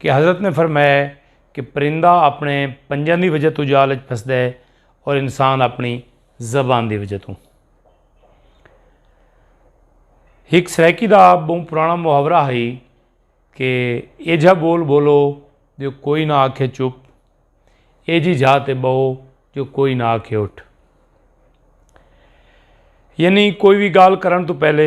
کہ حضرت نے فرمایا ہے کہ پرندہ اپنے پنجن دی وجہ تو جال اچ پھسدا ہے اور انسان اپنی زبان دی وجہ تو ہک سرائیکی دا بہت پرانا محاورہ ہے کہ اے جھا بول بولو جو کوئی نہ آکھے چپ اے جی جھا تے بہو جو کوئی نہ آکھے اٹھ یعنی کوئی بھی گال کرن تو پہلے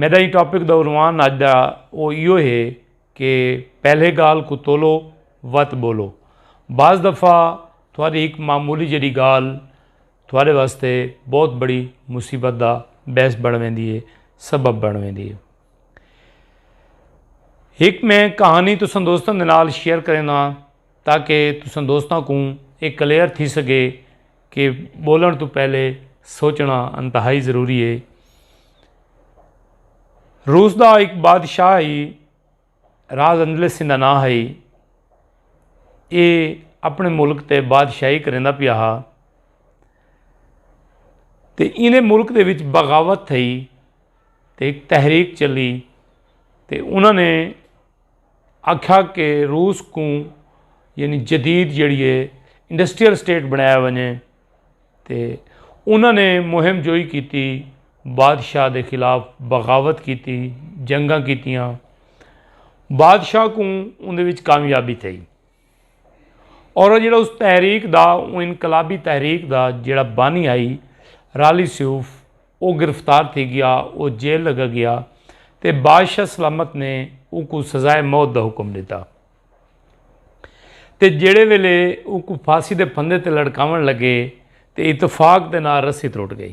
میݙا ایں ٹاپک دا عنوان اڄ دا او ایہو ہے کہ پہلے ڳالھ کوں تولو وت ٻولو بعض دفعہ تھوڑی ہک معمولی جیڑھی ڳالھ تھوڑے واسطے بہت بڑی مصیبت دا بحث بݨ ویندی ہے سبب بݨ ویندی ہے ہک میں کہانی تساں دوستاں دے نال شیئر کرینداں تاکہ تساں دوستاں کوں ایہ کلیئر تھی سڳے کہ بولن تو پہلے سوچنا انتہائی ضروری ہے روس دا ایک بادشاہ ہی راز اندلے سندھا نہ ہے یہ اپنے ملک تے بادشاہی کریں پیا ہا تے انہیں ملک دے وچ بغاوت تھئی تے ایک تحریک چلی تے انہوں نے آکھیا کہ روس کوں یعنی جدید جیڑھی اے انڈسٹریل سٹیٹ بنڑایا ونجے تے انہاں نے مہم جوئی کیتی بادشاہ دے خلاف بغاوت کیتی جنگاں کیتیاں بادشاہ کوں اوندے وچ کامیابی تھئی۔ اور وہ جڑا اس تحریک دا وہ انقلابی تحریک دا جڑا بانی آئی رالی سیوف وہ گرفتار تھی گیا وہ جیل لگا گیا تے بادشاہ سلامت نے ان کو سزائے موت دا حکم دیتا تے جڑے ویلے ان کو پھاسی دے پھندے تے لڑکاون لگے تے اتفاق دے نال رسی تروٹ گئی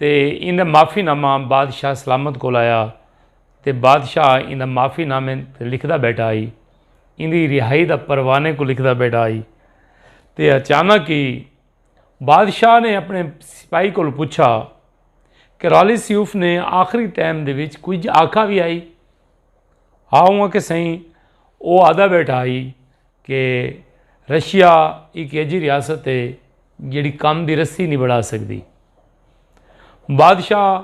تے ایندا معافی نامہ بادشاہ سلامت کول آیا تے بادشاہ ایندا معافی نامے تے لکھدا بیٹھا ہئی ایندی رہائی دا پروانے کوں لکھدا بیٹھا ہئی تے اچانک ہی بادشاہ نے اپنے سپاہی کول پچھا کہ رالی سیوف نے آخری ٹائم دے وچ کچھ آکھا بھی آئی ہاں ہوں کہ سائیں او آدھا بیٹھا ہئی کہ رشیا ایک ایجی ریاست ہے جیڑھی کم دی رسی نی بڑھا سگدی۔ بادشاہ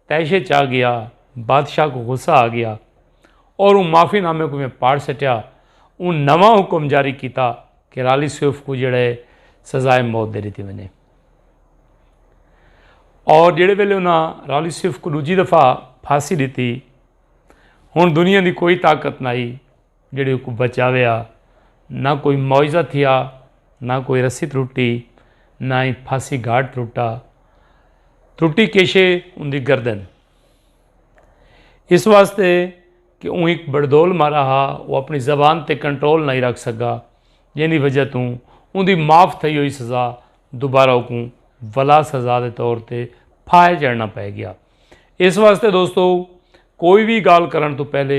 تیشے چا گیا۔ بادشاہ کو غصہ آ گیا۔ اور اوں معافی نامے کو میں پاڑ سٹیا۔ اوں نواں حکم جاری کیتا کہ رالی سیوف کو جیڑا ہے سزائے موت دے ڈتی ونجے۔ اور جیڑے ویلے انہاں رالی سیوف کو دوجی دفعہ پھانسی ڈتی۔ ہن دنیا دی کوئی طاقت نہ آئی۔ جیڑھی اوکوں بچاویا۔ نہ کوئی معاوضہ تھیا، نہ کوئی رسی ترٹی، نہ ای پھاسی گھاٹ ترٹا۔ ترٹی کیشے اوندی گردن۔ اس واسطے کہ اوں ہک بڑدول مارا ہا، او اپنی زبان تے کنٹرول نئیں رکھ سگا، جیندی وجہ توں اوندی معاف تھئی ہوئی سزا دوبارہ اوکوں ولا سزا دے طور تے پھاہے چڑھنا پئے گیا۔ اس واسطے دوستو! کوئی وی گالھ کرݨ توں پہلے۔